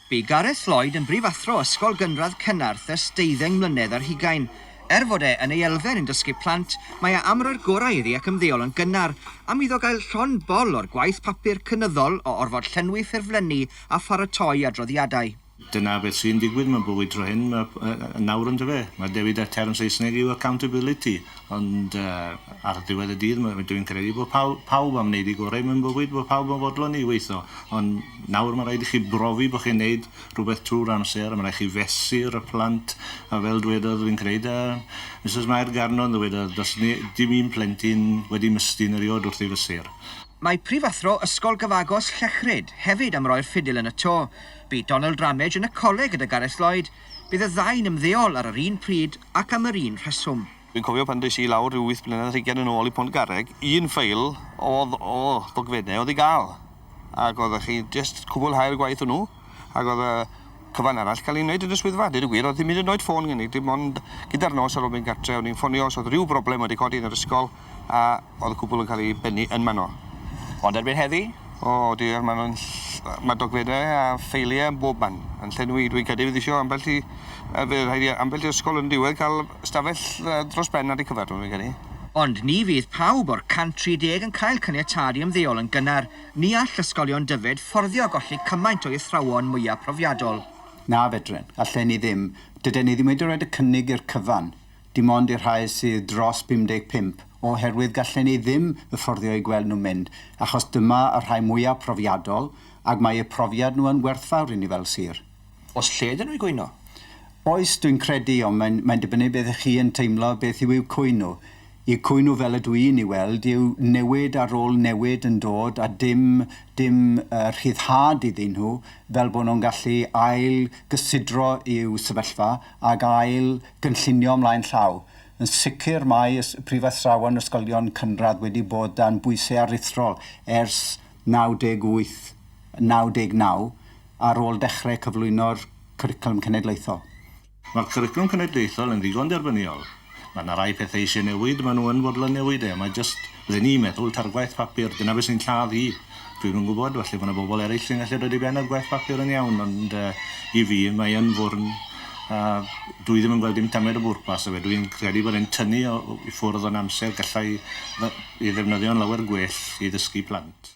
Bu Gareth Lloyd yn brifathro Ysgol Gynradd Cennarth ers deuddeng mlynedd ar hugain. Er fod e yn ei elfen yn dysgu plant, mae e am roi'r gorau iddi ac ymddeol yn gynnar, am iddo gael llond bol o'r gwaith papur cynyddol o orfod llenwi ffurflenni a pharatoi adroddiadau. Dyna beth sy'n digwydd mewn bywyd tro hyn, nawr yndyfe? Mae dewi da term Saesneg yw accountability. Ond ar ddiwedd y dydd ma- dwi'n credu bod paw- pawb am wneud eu gorau mewn bywyd, bod pawb yn fodlon i weithio. Ond nawr mae'n rhaid i chi brofi bod chi'n wneud rhywbeth trwy'r amser, mae'n rhaid i chi fesur y plant, a fel dwedodd fi'n creud yy Misus Mair Garnon ddywedodd does ne- dim un plentyn wedi mystyn eriod wrth ei fesur. Mae prifathro Ysgol Gyfagos Llechryd hefyd am roi'r ffidil yn y to. Bu Donald Ramage yn y coleg gyda Gareth Lloyd Bydd y ddau'n ymddeol ar yr un pryd ac am yr un rheswm. Dwi'n cofio pan des i lawr ryw wyth blynedd ar hugain yn ôl i Pontgarreg, un ffeil o'dd o ddogfenne o'dd i ga'l, ac oeddech chi jyst cwbwlhau'r gwaith hwnnw, ac o'dd y cyfan arall ca'l ei neud yn y swyddfa, deud y gwir, o'dd dim hyd yn oed ffôn gen i, dim ond gyda'r nos ar ôl mynd gartre o'n i'n ffonio os o'dd ryw broblem wedi codi yn yr ysgol, a o'dd y cwbwl yn ca'l 'i bennu yn man 'no. Ond erbyn heddi? O dear ma' nw'n ll- ma' dogfenne a ffeilie yn bob man yn llenwi dwi'n credu fydd isio ambell i yy fe rhaid i yy ambell i ysgol yn diwedd ca'l stafell yy dros ben ar 'u cyfar nw fi'n credu. Ond ni fydd pawb o'r 130 yn cael caniatâd i ymddeol yn gynnar, ni all ysgolion Dyfed fforddio a golli cymaint o'u athrawon mwya profiadol. Na fedren. Allen ni ddim. Dyden ni ddim wedi roid y cynnig i'r cyfan. Dim ond i'r rhai sydd dros 55, oherwydd gallen ni ddim y fforddio eu gweld nhw'n mynd, achos dyma y rhai mwyaf profiadol, ac mae eu profiad nhw yn werthfawr i ni fel sir. Oes lle iddyn nhw i gwyno? Oes, dwi'n credu, ond mae'n mae'n dibynnu beth ych chi yn teimlo beth yw eu cwyno. Eu cwyno fel y dw i'n ei weld yw newid ar ôl newid yn dod a dim dim yy rhyddhad iddyn nhw fel bod nhw'n gallu ail gysidro i'w sefyllfa ac ail gynllunio ymlaen llaw. Yn sicr, mae prifathrawon ysgolion cynradd wedi bod dan bwysau aruthrol ers 98, 99, ar ôl dechrau cyflwyno'r Cwricwlwm Cenedlaethol. Mae'r Cwricwlwm Cenedlaethol yn ddigon derbyniol. Mae 'na rai pethau eisiau newid, maen nhw yn fodlon newid e, mae jyst Ry'n ni'n meddwl, ta'r gwaith papur, dyna beth sy'n lladd hi. Dwi'm yn gwybod, falle bo' 'na bobol eryll sy'n gallu dod i ben a'r gwaith papur yn iawn, ond yy i fi mae yn fwrn a dwi ddim yn gweld dim tamed o bwrpas 'da fe. Dwi'n credu bod e'n tynnu o o i ffwrdd o'n amser, gallai fe- ei ddefnyddio'n lawer gwell i ddysgu plant.